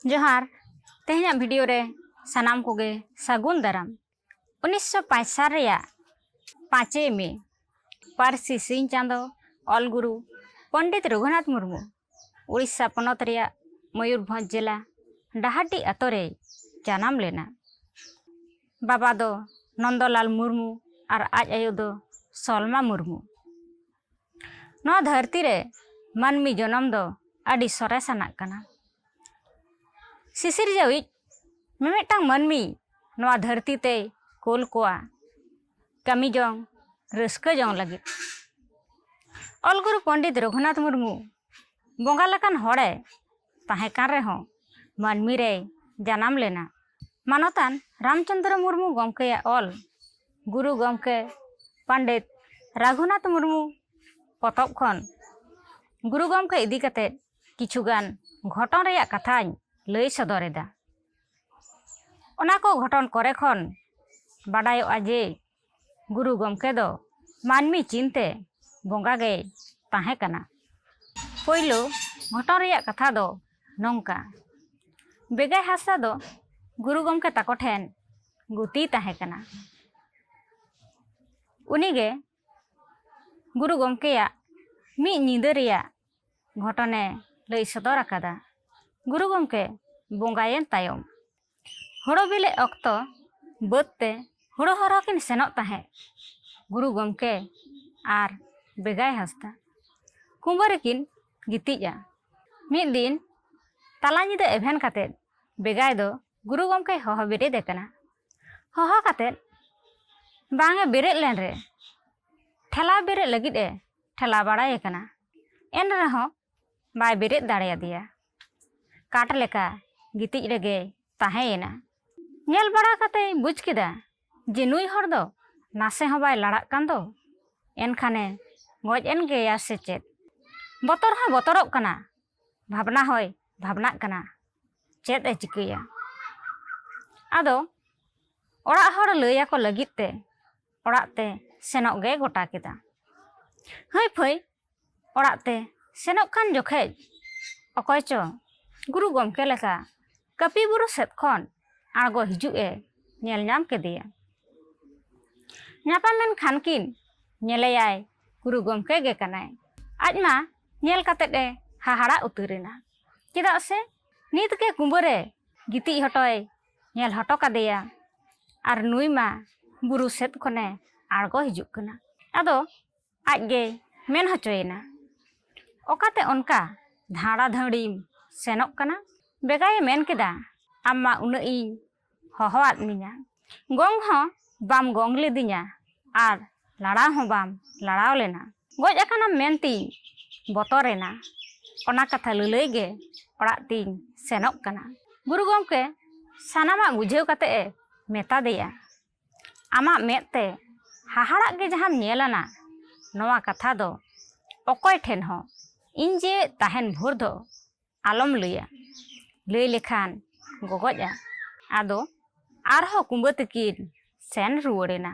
ᱡᱚᱦᱟᱨ ᱛᱮᱦᱮᱧᱟᱜ ᱵᱷᱤᱰᱤᱭᱳ ᱨᱮ ᱥᱟᱱᱟᱢ ᱠᱚᱜᱮ ᱥᱟᱹᱜᱩᱱ ᱫᱟᱨᱟᱢ ᱩᱱᱤᱥᱥᱚ ᱯᱟᱸᱪ ᱥᱟᱞ ᱨᱮᱭᱟᱜ ᱯᱟᱸᱪᱮᱭ ᱢᱮ ᱯᱟᱹᱨᱥᱤ ᱥᱤᱧ ᱪᱟᱸᱫᱚ ᱚᱞ ᱜᱩᱨᱩ ᱯᱚᱱᱰᱤᱛ ᱨᱚᱜᱷᱩᱱᱟᱛᱷ ᱢᱩᱨᱢᱩ ᱩᱲᱤᱥᱥᱟ ᱯᱚᱱᱚᱛ ᱨᱮᱭᱟᱜ ᱢᱚᱭᱩᱨᱵᱷᱚᱸᱡᱽ ᱡᱮᱞᱟ ᱰᱟᱦᱟᱨᱰᱤ ᱟᱛᱳ ᱨᱮᱭ ᱡᱟᱱᱟᱢ ᱞᱮᱱᱟ ᱵᱟᱵᱟ ᱫᱚ ᱱᱚᱱᱫᱚᱞᱟᱞ ᱢᱩᱨᱢᱩ ᱟᱨ ᱟᱡ ᱟᱭᱳ ᱫᱚ ᱥᱚᱞᱢᱟ ᱢᱩᱨᱢᱩ ᱱᱚᱣᱟ ᱫᱷᱟᱹᱨᱛᱤ ᱨᱮ ᱢᱟᱹᱱᱢᱤ ᱡᱚᱱᱚᱢ ᱫᱚ ᱟᱹᱰᱤ ᱥᱚᱨᱮᱥ ᱟᱱᱟᱜ ᱠᱟᱱᱟ ᱥᱤᱥᱤᱨᱡᱟᱹᱣᱤᱡ ᱢᱤᱢᱤᱫᱴᱟᱝ ᱢᱟᱹᱱᱢᱤ ᱱᱚᱣᱟ ᱫᱷᱟᱹᱨᱛᱤ ᱛᱮᱭ ᱠᱳᱞ ᱠᱚᱣᱟ ᱠᱟᱹᱢᱤ ᱡᱚᱝ ᱨᱟᱹᱥᱠᱟᱹ ᱡᱚᱝ ᱞᱟᱹᱜᱤᱫ ᱚᱞ ᱜᱩᱨᱩ ᱯᱚᱱᱰᱤᱛ ᱨᱚᱜᱷᱩᱱᱟᱛᱷ ᱢᱩᱨᱢᱩ ᱵᱚᱸᱜᱟ ᱞᱮᱠᱟᱱ ᱦᱚᱲᱮ ᱛᱟᱦᱮᱸ ᱠᱟᱱ ᱨᱮᱦᱚᱸ ᱢᱟᱹᱱᱢᱤ ᱨᱮᱭ ᱡᱟᱱᱟᱢ ᱞᱮᱱᱟ ᱢᱟᱱᱚᱛᱟᱱ ᱨᱟᱢᱪᱚᱱᱫᱨᱚ ᱢᱩᱨᱢᱩ ᱜᱚᱢᱠᱮᱭᱟᱜ ᱚᱞ ᱜᱩᱨᱩ ᱜᱚᱢᱠᱮ ᱯᱚᱱᱰᱤᱛ ᱨᱟᱜᱷᱩᱱᱟᱛᱷ ᱢᱩᱨᱢᱩ ᱯᱚᱛᱚᱵ ᱠᱷᱚᱱ ᱜᱩᱨᱩ ᱜᱚᱢᱠᱮ ᱤᱫᱤ ᱠᱟᱛᱮ ᱠᱤᱪᱷᱩᱜᱟᱱ ᱜᱷᱚᱴᱚᱱ ᱨᱮᱭᱟᱜ ᱠᱟᱛᱷᱟᱧ ᱞᱟᱹᱭ ᱥᱚᱫᱚᱨ ᱮᱫᱟ ᱚᱱᱟ ᱠᱚ ᱜᱷᱚᱴᱚᱱ ᱠᱚᱨᱮ ᱠᱷᱚᱱ ᱵᱟᱰᱟᱭᱚᱜᱼᱟ ᱡᱮ ᱜᱩᱨᱩ ᱜᱚᱢᱠᱮ ᱫᱚ ᱢᱟᱹᱱᱢᱤ ᱪᱤᱱᱛᱮ ᱵᱚᱸᱜᱟ ᱜᱮᱭ ᱛᱟᱦᱮᱸ ᱠᱟᱱᱟ ᱯᱳᱭᱞᱳ ᱜᱷᱚᱴᱚᱱ ᱨᱮᱭᱟᱜ ᱠᱟᱛᱷᱟ ᱫᱚ ᱱᱚᱝᱠᱟ ᱵᱮᱜᱟᱭ ᱦᱟᱸᱥᱫᱟ ᱫᱚ ᱜᱩᱨᱩ ᱜᱚᱢᱠᱮ ᱛᱟᱠᱚ ᱴᱷᱮᱱ ᱜᱩᱛᱤᱭ ᱛᱟᱦᱮᱸ ᱠᱟᱱᱟ ᱩᱱᱤᱜᱮ ᱜᱩᱨᱩ ᱜᱚᱢᱠᱮᱭᱟᱜ ᱢᱤᱫ ᱧᱤᱫᱟᱹ ᱨᱮᱭᱟᱜ ᱜᱷᱚᱴᱚᱱᱮ ᱞᱟᱹᱭ ᱥᱚᱫᱚᱨ ᱟᱠᱟᱫᱟ ᱜᱩᱨᱩ ᱜᱚᱢᱠᱮ ᱵᱚᱸᱜᱟᱭᱮᱱ ᱛᱟᱭᱚᱢ ᱦᱳᱲᱳ ᱵᱤᱞᱤᱜ ᱚᱠᱛᱚ ᱵᱟᱹᱫᱽ ᱛᱮ ᱦᱳᱲᱳ ᱦᱚᱨᱚᱜ ᱠᱤᱱ ᱥᱮᱱᱚᱜ ᱛᱟᱦᱮᱸᱫ ᱜᱩᱨᱩ ᱜᱚᱢᱠᱮ ᱟᱨ ᱵᱮᱜᱟᱭ ᱦᱟᱸᱥᱫᱟ ᱠᱩᱸᱵᱟᱹ ᱨᱮᱠᱤᱱ ᱜᱤᱛᱤᱡᱼᱟ ᱢᱤᱫ ᱫᱤᱱ ᱛᱟᱞᱟ ᱧᱤᱫᱟᱹ ᱮᱵᱷᱮᱱ ᱠᱟᱛᱮ ᱵᱮᱜᱟᱭ ᱫᱚ ᱜᱩᱨᱩ ᱜᱚᱢᱠᱮ ᱦᱚᱦᱚ ᱵᱮᱨᱮᱫᱮ ᱠᱟᱱᱟ ᱦᱚᱦᱚ ᱠᱟᱛᱮ ᱵᱟᱝᱮ ᱵᱮᱨᱮᱫ ᱞᱮᱱ ᱨᱮ ᱴᱷᱮᱞᱟᱣ ᱵᱮᱨᱮᱫ ᱞᱟᱹᱜᱤᱫ ᱮ ᱴᱷᱮᱞᱟᱣ ᱵᱟᱲᱟᱭᱮ ᱠᱟᱱᱟ ᱮᱱ ᱨᱮᱦᱚᱸ ᱵᱟᱭ ᱵᱮᱨᱮᱫ ᱫᱟᱲᱮᱭᱟᱫᱮᱭᱟ ᱠᱟᱴ ᱞᱮᱠᱟ ᱜᱤᱛᱤᱡ ᱨᱮᱜᱮᱭ ᱛᱟᱦᱮᱸᱭᱮᱱᱟ ᱧᱮᱞ ᱵᱟᱲᱟ ᱠᱟᱛᱮᱭ ᱵᱩᱡᱽ ᱠᱮᱫᱟ ᱡᱮ ᱱᱩᱭ ᱦᱚᱲ ᱫᱚ ᱱᱟᱥᱮ ᱦᱚᱸ ᱵᱟᱭ ᱞᱟᱲᱟᱜ ᱠᱟᱱ ᱫᱚ ᱮᱱᱠᱷᱟᱱᱮ ᱜᱚᱡ ᱮᱱ ᱜᱮᱭᱟ ᱥᱮ ᱪᱮᱫ ᱵᱚᱛᱚᱨ ᱦᱚᱸ ᱵᱚᱛᱚᱨᱚᱜ ᱠᱟᱱᱟ ᱵᱷᱟᱵᱽᱱᱟ ᱦᱚᱸᱭ ᱵᱷᱟᱵᱽᱱᱟᱜ ᱠᱟᱱᱟ ᱪᱮᱫ ᱮ ᱪᱤᱠᱟᱹᱭᱟ ᱟᱫᱚ ᱚᱲᱟᱜ ᱦᱚᱲ ᱞᱟᱹᱭᱟᱠᱚ ᱞᱟᱹᱜᱤᱫ ᱛᱮ ᱚᱲᱟᱜ ᱛᱮ ᱥᱮᱱᱚᱜ ᱜᱮ ᱜᱚᱴᱟ ᱠᱮᱫᱟ ᱦᱟᱹᱭ ᱯᱷᱟᱹᱭ ᱚᱲᱟᱜ ᱛᱮ ᱥᱮᱱᱚᱜ ᱠᱟᱱ ᱡᱚᱠᱷᱮᱡ ᱚᱠᱚᱭ ᱪᱚ ᱜᱩᱨᱩ ᱜᱚᱢᱠᱮ ᱞᱮᱠᱟ ᱠᱟᱹᱯᱤ ᱵᱩᱨᱩ ᱥᱮᱫ ᱠᱷᱚᱱ ᱟᱬᱜᱚ ᱦᱤᱡᱩᱜ ᱮ ᱧᱮᱞ ᱧᱟᱢ ᱠᱮᱫᱮᱭᱟ ᱧᱟᱯᱟᱢ ᱮᱱ ᱠᱷᱟᱱ ᱠᱤᱱ ᱧᱮᱞᱮᱭᱟᱭ ᱜᱩᱨᱩ ᱜᱚᱢᱠᱮ ᱜᱮ ᱠᱟᱱᱟᱭ ᱟᱡ ᱢᱟ ᱧᱮᱞ ᱠᱟᱛᱮᱫ ᱮ ᱦᱟᱦᱟᱲᱟ ᱩᱛᱟᱹᱨᱮᱱᱟ ᱪᱮᱫᱟᱜ ᱥᱮ ᱱᱤᱛ ᱜᱮ ᱠᱩᱸᱵᱟᱹᱨᱮ ᱜᱤᱛᱤᱡ ᱦᱚᱴᱚᱭ ᱧᱮᱞ ᱦᱚᱴᱚ ᱠᱟᱫᱮᱭᱟ ᱟᱨ ᱱᱩᱭ ᱢᱟ ᱵᱩᱨᱩ ᱥᱮᱫ ᱠᱷᱚᱱᱮ ᱟᱬᱜᱚ ᱦᱤᱡᱩᱜ ᱠᱟᱱᱟ ᱟᱫᱚ ᱟᱡ ᱜᱮᱭ ᱢᱮᱱ ᱦᱚᱪᱚᱭᱮᱱᱟ ᱚᱠᱟᱛᱮ ᱚᱱᱠᱟ ᱫᱷᱟᱸᱲᱟ ᱫᱷᱟᱹᱲᱤᱢ ᱥᱮᱱᱚᱜ ᱠᱟᱱᱟ ᱵᱮᱜᱟᱭᱮ ᱢᱮᱱ ᱠᱮᱫᱟ ᱟᱢ ᱢᱟ ᱩᱱᱟᱹᱜ ᱤᱧ ᱦᱚᱦᱚᱣᱟᱫ ᱢᱮᱧᱟ ᱜᱚᱝ ᱦᱚᱸ ᱵᱟᱢ ᱜᱚᱝ ᱞᱤᱫᱤᱧᱟ ᱟᱨ ᱞᱟᱲᱟᱣ ᱦᱚᱸ ᱵᱟᱢ ᱞᱟᱲᱟᱣ ᱞᱮᱱᱟ ᱜᱚᱡ ᱟᱠᱟᱱᱟᱢ ᱢᱮᱱᱛᱤᱧ ᱵᱚᱛᱚᱨᱮᱱᱟ ᱚᱱᱟ ᱠᱟᱛᱷᱟ ᱞᱟᱹᱞᱟᱹᱭ ᱜᱮ ᱚᱲᱟᱜ ᱛᱤᱧ ᱥᱮᱱᱚᱜ ᱠᱟᱱᱟ ᱜᱩᱨᱩ ᱜᱚᱢᱠᱮ ᱥᱟᱱᱟᱢᱟᱜ ᱵᱩᱡᱷᱟᱹᱣ ᱠᱟᱛᱮ ᱮ ᱢᱮᱛᱟ ᱫᱮᱭᱟ ᱟᱢᱟᱜ ᱢᱮᱫ ᱛᱮ ᱦᱟᱦᱟᱲᱟᱜ ᱜᱮ ᱡᱟᱦᱟᱸᱢ ᱧᱮᱞ ᱟᱱᱟ ᱱᱚᱣᱟ ᱠᱟᱛᱷᱟ ᱫᱚ ᱚᱠᱚᱭ ᱴᱷᱮᱱ ᱦᱚᱸ ᱤᱧ ᱡᱮ ᱛᱟᱦᱮᱱ ᱵᱷᱳᱨ ᱫᱚ ᱟᱞᱚᱢ ᱞᱟᱹᱭᱟ ᱞᱟᱹᱭ ᱞᱮᱠᱷᱟᱱ ᱜᱚᱜᱚᱡᱼᱟ ᱟᱫᱚ ᱟᱨᱦᱚᱸ ᱠᱩᱢᱵᱟᱹ ᱛᱮᱠᱤᱱ ᱥᱮᱱ ᱨᱩᱣᱟᱹᱲ ᱮᱱᱟ